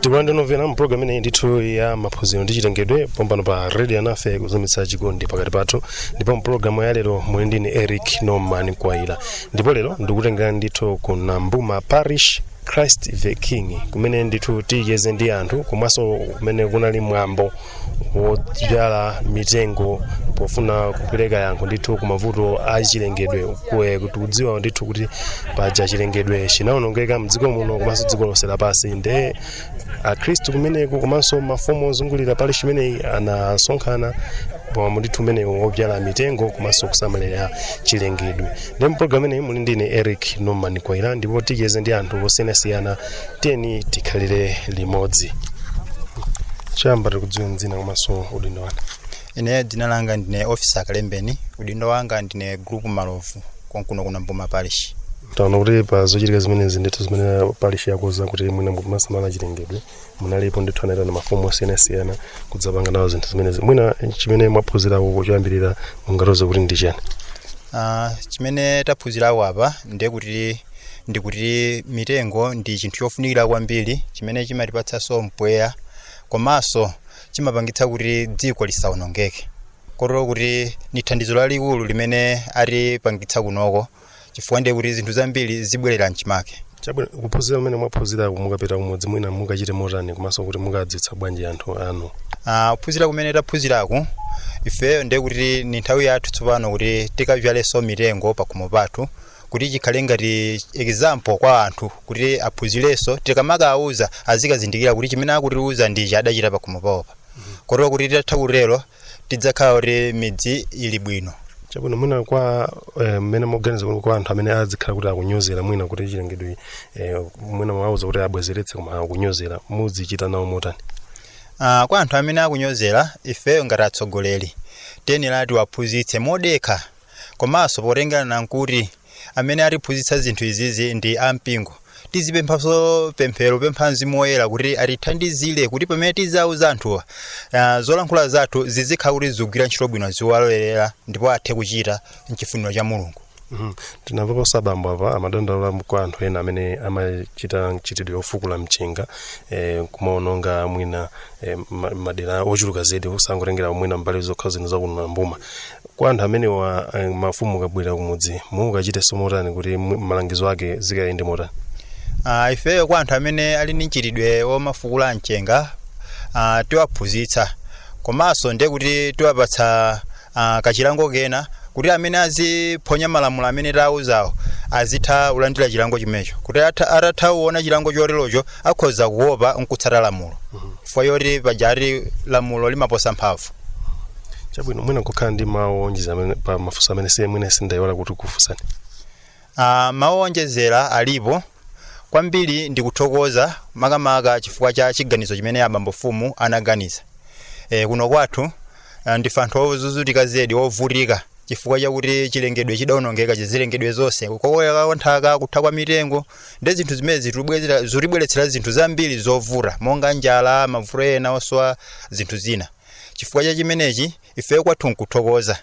tikulandirenimvera mu programu ineyi ndithu ya maphunziro ndi chilengedwe pompano pa radio alinafe kuzamitsa chikondi pakati pathu ndipo mu programu ya lero muli ndine eric norman kwaila ndipo lero ndikutengera ndithu ku nambuma parish christ the king kumene ndithu ticheze ndi anthu komanso kumene kunali mwambo wodzala mitengo pofuna kupereka yankho ndithu ku mavuto a chilengedwe kwe- podziwa ndithu kuti paja chilengedwe chinawonongeka mdziko muno komanso dziko lonse lapansi nde akhristu kumeneko komanso mafumu ozungulira parish imeneyi anasonkhana pamwambo ndithu umenewu wodzala mitengo komanso kusamalira chilengedwe ndi mpulogalamu ineyi muli ndine eric norman kwaila ndipo ticheze ndi anthu osiyanasiyana tiyeni tikhalire limodzi choyamba tikudziweni dzina komanso udindo wanu ine dzina langa ndine ofisa kalembeni udindo wanga ndine group malovu konkuno ku nambuma parish taona kuti pa zochitika zimenezi ndithu zimene parish yakoza kuti mwina kumasamala chilengedwe munalipo ndithu anaitana mafumu osiyanasiyana kudzapanga nawo zinthu zimenezi mwina chimene mwaphunzirako choyambirira mungatiuze kuti ndi chani Ah, chimene taphunzirako apa ndi kuti ndikuti mitengo ndi chinthu chofunikira kwambiri chimene chimatipatsanso mpweya komanso chimapangitsa kuti dziko lisawonongeke kotero kuti ni thandizo lalikulu limene atipangitsa kunoko chifukwa ndiye kuti zinthu zambiri zibwerera mchimake chabwino kuphunzira kumene mwaphunzira mukapita kumudzi mwina mukachita motani komanso kuti mukadziwitsa bwanji anthu anu Ah, kuphunzira kumene taphunziraku ifeyo ndiye kuti ni nthawi yathu tsopano kuti tikavyalenso mitengo pakhomo pathu kuti chikhale ngati example kwa anthu kuti aphunzirenso tikamakawauza azikazindikira kuti chimene akutiuza ndichi adachita pakhomo pawopa kotero kuti titatha kutero tidzakhala kuti midzi ili bwino chabwino mwina kwa eh, mmene mukuganiza kuti kwa anthu amene azikhala kuti akunyozera mwina kuti chilengedwe eh, mwina mwawauza kuti abwezeretse koma akunyozera muzichita nawo motani Ah, kwa anthu amene akunyozera ifeyo ngati atsogoleri tiyenera tiwaphunzitse modekha komanso potengera nkuti amene atiphunzitsa zinthu izizi ndi ampingo tizipemphanso pemphero kupempha mzimu woyera kuti atithandizire kuti pamene tizauza anthuwa uh, zolankhula zathu zizikhala kuti zikugwira ntchito bwino ziwalolerera ndipo athe kuchita mchifuniro cha mulungu Mhm. tinamvapo abambo apa amadandaula kwa anthu ena amene amachita mchitidwe ofukula mchenga eh, kumaononga mwina eh, ma- madera ochuluka zedi osangotengera mwina mbali zokha zino za kuno nambuma Kwa anthu amenewa eh, mafumu kabwera kumudzi mukachitenso motani kuti mu- malangizo ake zikayende motani Ah, ifeyo kwa anthu amene ali ndi mchitidwe womafukula mchenga ah, tiwaphunzitsa komanso ndi kuti tiwapatsa ah, kachilango kena kuti amene aziphonya malamulo amene tawauzawo azitha kulandira chilango chimenecho kuti atha- atatha kuona chilango choterocho akhoza kuopa nkutsata lamulo chifukwa choti pajati lamulo limaposa mphamvu chabwino mwina mungakhale ndi mawu owonjezera amene- pa mafunso amene siye mwina ndayiwala kukufunsani Ah, mawu owonjezera alipo kwambiri ndikuthokoza makamaka chifukwa cha chiganizo chimene abambo mfumu anaganiza e, kuno kwathu ah, ndife anthu ozunzika zedi ovutika chifukwa chakuti chilengedwe chidawonongeka zachilengedwe zonse kukokoloka kwa nthaka kutha kwa mitengo ndi zinthu zimene zitibwezera- zitibweretsera zinthu zambiri zovuta monga njala mavuto ena osowa zinthu zina chifukwa cha chimenechi ifeyo kwathu nkuthokoza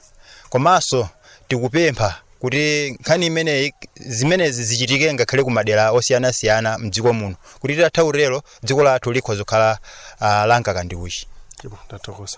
komanso tikupempha kuti nkhani imeneyi zimenezi zichitike ngakhale ku madera osiyanasiyana mdziko muno kuti titatha kutero dziko lathu likhoza kukhala uh, lamkaka ndi uchi Ndipo ndathokoza.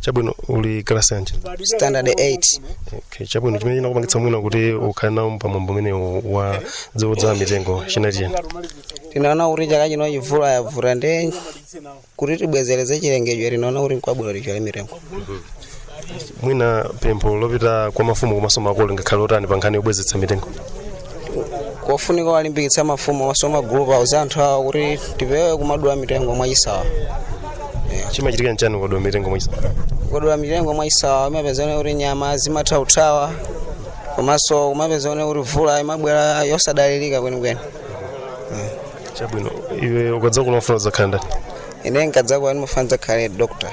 chabwino uli kalasi yanji standard 8 okay, chabwino chimene chinakupangitsa mwina kuti ukhale nawo pamwambo umenewu wodzadzala mitengo chinali chiyani tinaona kuti chaka chino mvula yavuta ndi kuti tibwezeretse chilengedwe tinaona kuti nkwabwino tidzale mitengo mwina pempho lopita kwa mafumu komanso makolo lingakhale lotani pa nkhani yobwezeretsa mitengo kofunika kuwalimbikitsa mafumu komanso magulupu awo auze anthu awo kuti tipewe kumadula mitengo mwachisawa chimachitika nchani ukadula mitengo mwachisawa ukadula mitengo mwachisawa zimapezeka kuti nyama zimatha kuthawa komanso kumapezeka kuti mvula imabwera yosadalirika kwenikweni chabwino iwe ukadzakula ukufuna udzakhale ndani ine nkadzakula ndimafuna ndidzakhale dokotala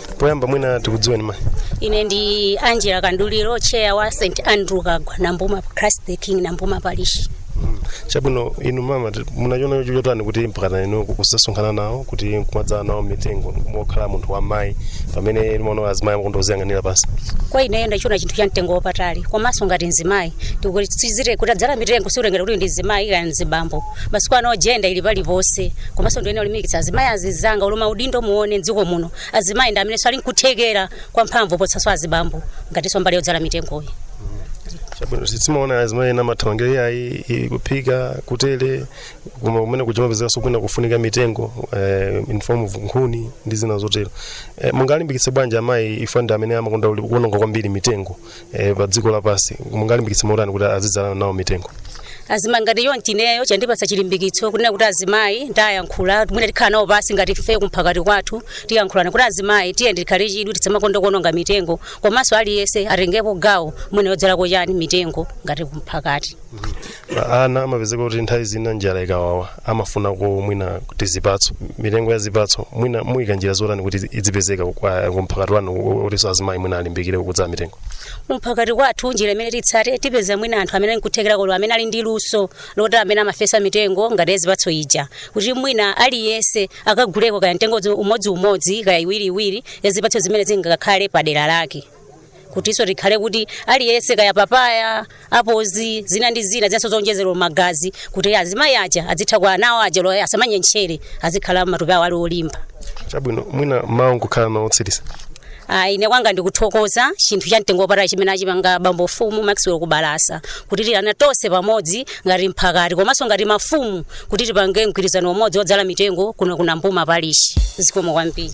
poyamba mwina tikudziweni mayi ine ndi angela kamduliro chair wa st andrew kagwa nambuma christ the king nambuma parish chabwino inu mama ti- munachiona chotani kuti mpakana inu kudzasonkhana nawo kuti nkumadzala nawo mitengo mokhala munthu wa mayi pamene timaona azimayi amakonda kudziyang'anira pansi kwa ineyo ndachiona chinthu cha mtengo wapatali komanso ngati mzimayi tikutsindikizira kuti kudzala mitengo sikutengera kuti ndi mzimayi kaya mzibambo masiku ano jenda ili paliponse komanso ndine wolimbikitsa azimayi anzanga olo maudindo muone mdziko muno azimayi ndi amenenso ali nkuthekera kwa mphamvu poposanso azibambo ngatinso mbali yodzala mitengoyi chabwino timaona azimayi ena amathamangira iyayi i- kuphika kutere koma kumene kukumapezekanso kwina kufunika mitengo eh, in form of nkhuni ndi zina zotero eh, mungalimbikitse bwanji amayi chifukwa ndi amene amakonda uli- kuononga kwambiri mitengo e, pa dziko lapansi mungalimbikitse motani kuti azidzala nawo mitengo azimayi ngati iyo ndineyo chandipatsa chilimbikitso kunena kuti azimayi tayankhula mwina tikhala nawo pansi ngati ife kumphakati kwathu tiyankhulana kuti azimayi tiyeni tikhale chidwi tisamakonda kuononga mitengo komanso aliyense atengepo gawo mwina yodzalako chani mitengo ngati kumphakati ana amapezeka kuti nthawi zina njala ikawawa amafunako mwina tizipatso mitengo ya zipatso mwina muyika njira zotani kuti idzipezeka kumphakati wanu kutinso azimayi mwina alimbikire kudzala mitengo kumphakati kwathu njira imene titsate tipeza mwina anthu amene nkuthekera kwawo amene ali ndi luso loti amene amafesa mitengo ngati yazipatso ija kuti mwina aliyense akaguleko kaya mtengo umodziumodzi kaya iwiriiwiri yazipatso zimene zingakhale pa dera lake kutinso tikhale kuti aliyense kaya papaya apozi zina ndi zina zinanso zonjezera magazi kuti azimayi aja azitha kwa anawo aja asamanyentchere azikhala matupi awo ali olimba chabwino mwina mawu mukhala nawo otsiriza Ah, ine kwanga ndikuthokoza chinthu cha mtengo wapatali chimene achipanga bambo mfumu maxwell kubalasa kutiitana tonse pamodzi ngati mphakati komanso ngati mafumu kuti tipange mgwirizano umodzi wodzala mitengo kuno ku Nambuma parishi zikomo kwambiri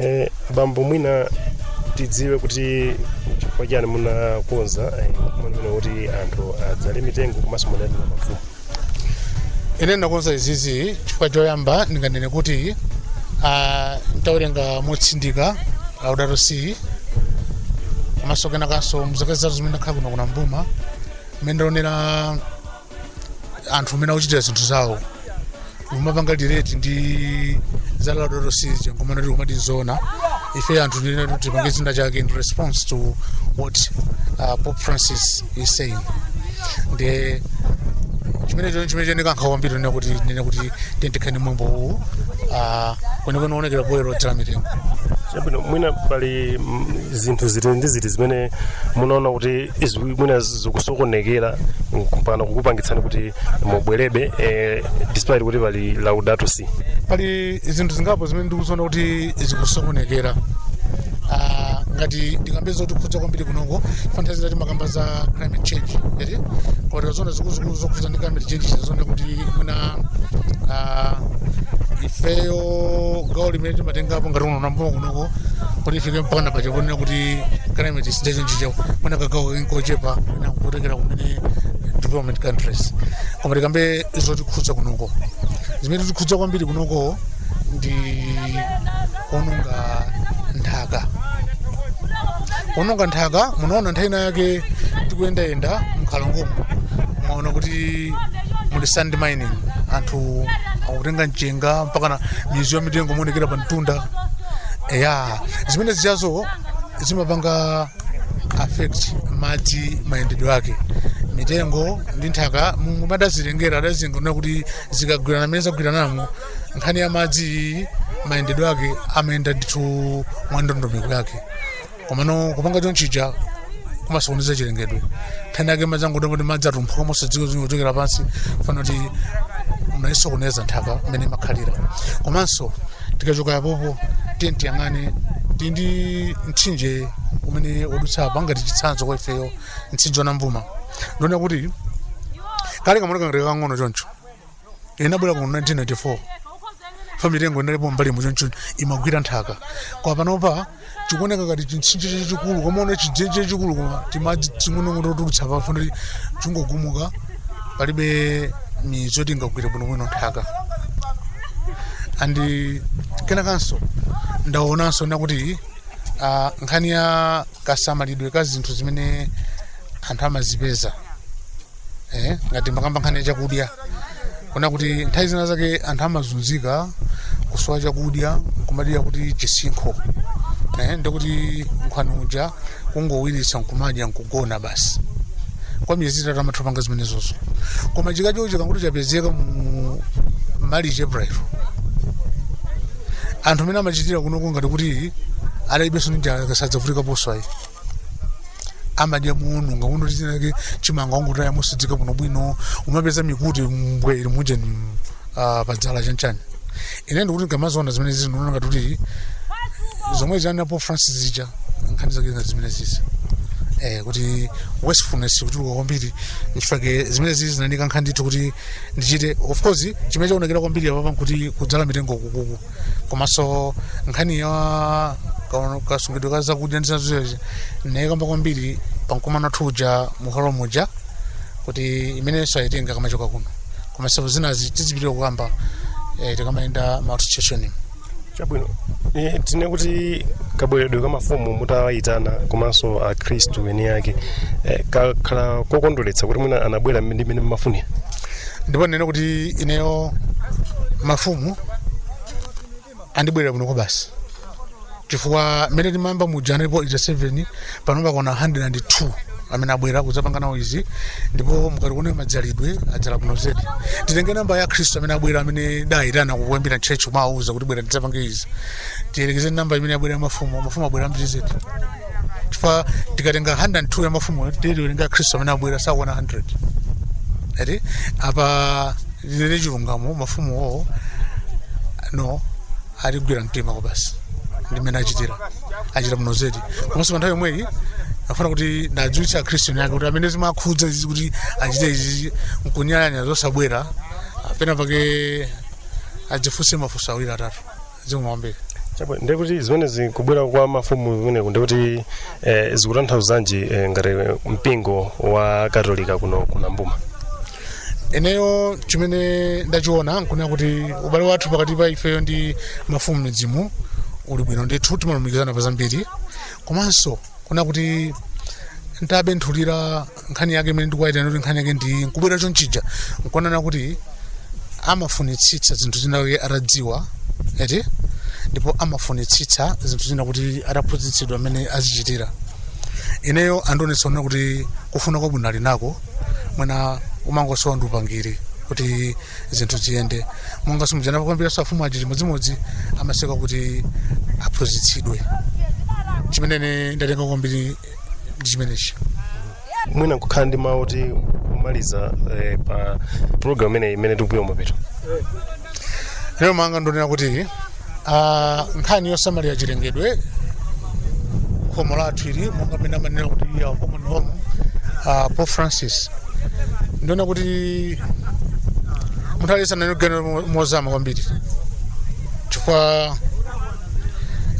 Eh, bambo mwina tidziwe kuti chifukwa chani munakonza eh, mkumano umene kuti anthu adzale mitengo komanso munali na mafumu ine ndakonza izizi chifukwa choyamba ndinganene kuti ah, nditawerenga motsindika laudato si komanso kenakanso muzaka zitatu zimene ndakhala kuno ku Nambuma mmene ndaonera anthu mmene akuchitira zinthu zawo kumapanga relate ndi za laudato si ija nkumana kuti kumati zona ife anthu tinene kuti tipange china chake in response to what uh, pope francis is saying ndi chimene chino chimene chandikankha kwambiri nene kuti nene kuti tentekhani mwambo uwu uh, kwenekwene woonekera poyera odzala mitengo chabwino mwina pali mm, zinthu ziti ndi ziti zimene munaona kuti izi mwina zikusokonekera mpaka kukupangitsani kuti mubwerebe eh, despite kuti pali laudato si pali zinthu zingapo zimene ndikuziona kuti zikusokonekera Ah, ngati ndikambe zotikhudza kwambiri kunoko fantazi timakamba za climate change eti koma tikazona zikuluzikulu zokhudza ndi climate change tizona kuti mwina ah, ifeyo gawo limene timatengapo ngati uno pambuyo kunoko kuti ifike mpakana paja ponena kuti climate is changing chicha pona kagawo kochepa mwina kutengera kumene developed countries koma tikambe zotikhudza kunoko zimene zikutikhudza kwambiri kunoko ndi kuononga nthaka kuononga nthaka munaona nthawi ina yake tikuyendayenda mkhalongomo mwaona kuti muli sand mining anthu akutenga mchenga nga mpakana mizu ya mitengo imaonekera pa mtunda eya zimene zijazo zimapanga affect madzi mayendedwe ake mitengo ndi nthaka mulungu adazilengera adazilenga kuti zikagwirana mmene zagwiranamo nkhani ya madzi mayendedwe ake amayenda ndithu mwa ndondomeko yake komano kupanga chonchija kumasokoneza chilengedwe nthawi yake madzi angoda kuti madzi atumphuka mosadziwa zimene kuchokera pansi chifukwa chakuti munaisokoneza nthaka mmene imakhalira komanso tikachoka yapopo tiyeni tiyang'ane tili ndi mtsinje umene wadutsa apa ngati chitsanzo kwa ifeyo mtsinje wa Nambuma ndiona kuti kale kamaoneka ngati kakang'ono choncho ndinabwera mu 1994 pa mitengo inalipo mbali muchoncho imagwira nthaka koma panopa chikuoneka ngati chimtsinje chachikulu kumaona chidzenje chachikulu koma timadzi ting'onong'ono totulutsa chifukwa kuti chingogumuka palibe mizu yoti ingagwire bwinobwino nthaka and kenakanso ndaonanso ndakuti ah, nkhani ya kasamalidwe ka zinthu zimene anthu amazipeza eh, ngati tikakamba nkhani ya chakudya kuona kuti nthawi zina zake anthu amazunzika kusowa chakudya kumadalira kuti chisinkho eh, ndikuti nkhwani uja kungowiritsa nkumadya nkugona basi kwa miyezi itatu amatha kupanga zimenezozo koma chakudyacho chikangoti chapezeka mu March April anthu mmene amachitira kunoko ngati kuti adalibenso ndi njala kapena sadzavutika poswayi amadya muunu nga kuno chinanso chimanga ongotaya mosadziwika bwino bwino umapeza mikute mbwee ili muje ni ah, padzala chanchani ine ndikuti ndikamaziona zimene zizi ndikuona ngati kuti zomwe za a Pope Francis zija nkhani zake ngati zimene zizi eh, kuti wastefulness ikuchuluka kwambiri nchifukwa chake zimene zizi zinanika nkhani ndithu kuti ndichite of course chimene chaonekera kwambiri apapa nkuti kudzala mitengo ukuku komanso nkhani ya ka- kasungidwe ka zakudya ndi zizozi nayikamba kwambiri pankumano wathu uja muholo muja kuti imenenso ayitenge akamachoka kuno komanso zinazi tizipitiriza kukamba eh, tikamayenda ma association chabwino Eh, tinene kuti kabweredwe ka mafumu mutawayitana komanso akhristu eni ake eh, kakhala kokondweretsa kuti mwina anabwera ndi mmene mmafunira ndipo ndinene kuti ineyo mafumu andibwerera bwino kwabasi chifukwa mmene timayamba muja analipo 87 panopa akwana 102 amene abwera kudzapanga nawo izi ndipo mukati muone madzalidwe adzala kuno zedi titenge namba ya akhristu amene abwera amene tidayitana kuyambira mtchurch kumawuza kuti bwerani tidzapange izi tiyerekeze namba imene abwera ya mafumu mafumu abwera ambiri zedi chifukwa tikatenga 102 ya mafumu tiwerenga akhristu amene abwera sakwana 100 eti apa ndinene chilungamo mafumu awo no atigwira mtima kwabasi ndi mmene achitira achita bwino zedi komanso pa nthawi yomweyi afuna kuti ndadziwitsa akhristu ake kuti amene zimakhudza izi kuti achite izi nkunyalanyaza osabwera pena pake adzifunse mafunso awiri atatu zikumveka chabwino, ndiye kuti zimene zikubwera kwa mafumu kumeneku ndiye kuti eh, zikutanthauzanji eh, ngati mpingo wa katolika kuno ku nambuma ineyo chimene ndachiona nkunena kuti ubale wathu pakati pa ifeyo ndi mafumu m'midzimu uli bwino ndithu timalumikizana pa zambiri komanso kunena kuti ntabenthulira nkhani yake imene ndikuwaitanira kuti nkhani yake ndi nkubwera chonchija nkuonana kuti amafunitsitsa zinthu zina kuti atadziwa eti ndipo amafunitsitsa zinthu zina kuti ataphunzitsidwa mmene azichitira ineyo andionetsa kunena kuti kufuna kwabwino ali nako mwina umangosowa ndi upangiri kuti zinthu ziyende monga simujana pakwambiranso mafumu aja chimodzimodzi amasuka kuti aphunzitsidwe chimene ine ndatenga kwambiri ndi chimenechi mwina nkukhala ndi mawu oti kumaliza eh, pa programu imeneyi imene tikupita kumapeto lero mawu anga ndonena kuti ah, nkhani yosamalira chilengedwe khomo lathu ili monga mmene amanena kuti our common home ah, pope francis ndonena kuti munthu aliyense ayenera kuganizira mo- mozama kwambiri chifukwa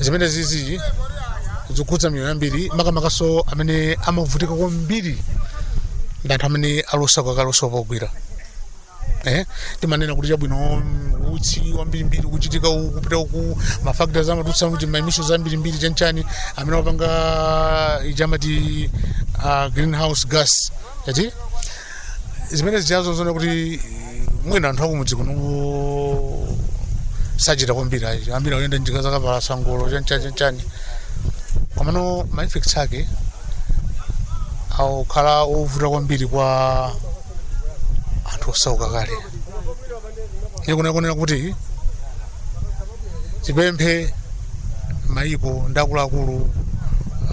zimenezizi zikukhudza miyoyo yambiri makamakanso amene amavutika kwambiri ndi anthu amene ali osauka kale osowa pogwira eh timanena kuti chabwino mm, utsi wambirimbiri kuchitika uku kupita uku mafactories amatulutsa kuti maemissions ambirimbiri chanchani amene wapanga ija amati uh, greenhouse gas yati zimenezijazo zoona kuti mwina anthu akumudzi kuno sachita kwambiri ayi ambiri akuyenda njinga zakapalasa ngolo chanchani chanchani komano ma effects ake akukhala ovuta kwambiri kwa anthu osauka kale ndiye nkoyenera kuti tipemphe mayiko ndi akuluakulu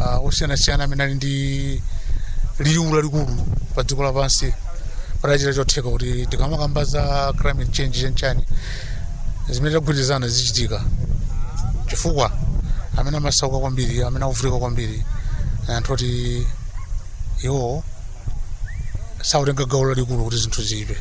ah, osiyanasiyana amene ali ndi liwu lalikulu pa dziko lapansi atachita chotheka kuti tikamakamba za climate change chanchani zimene tagwirizana zizichitika chifukwa amene amasauka kwambiri amene akuvutika kwambiri anthu oti iwo sautenga gawo lalikulu kuti zinthu ziyipe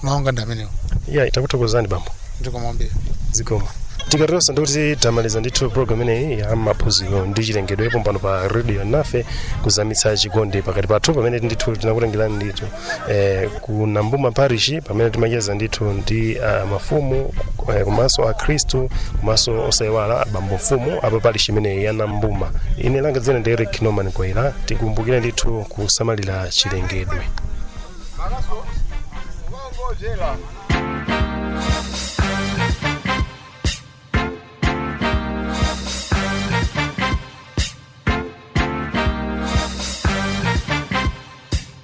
maono anga ndi amenewo ya takuthokozani bambo ndikomwambira zikomo tikatero sono ndikuti tamaliza ndithu program ineyi ya maphunziro ndi chilengedwe pompano pa radio nafe kuzamitsa chikondi pakati pathu pamene ndithu tinakutengerani ndithu eh, ku nambuma parish pamene timacheza ndithu ndi uh, mafumu eh, komanso akhristu komanso osaiwala abambo mfumu apa parish imeneyi ya nambuma ine langa dzina ndi eric norman kwaira tikumbukire ndithu kusamalira chilengedwe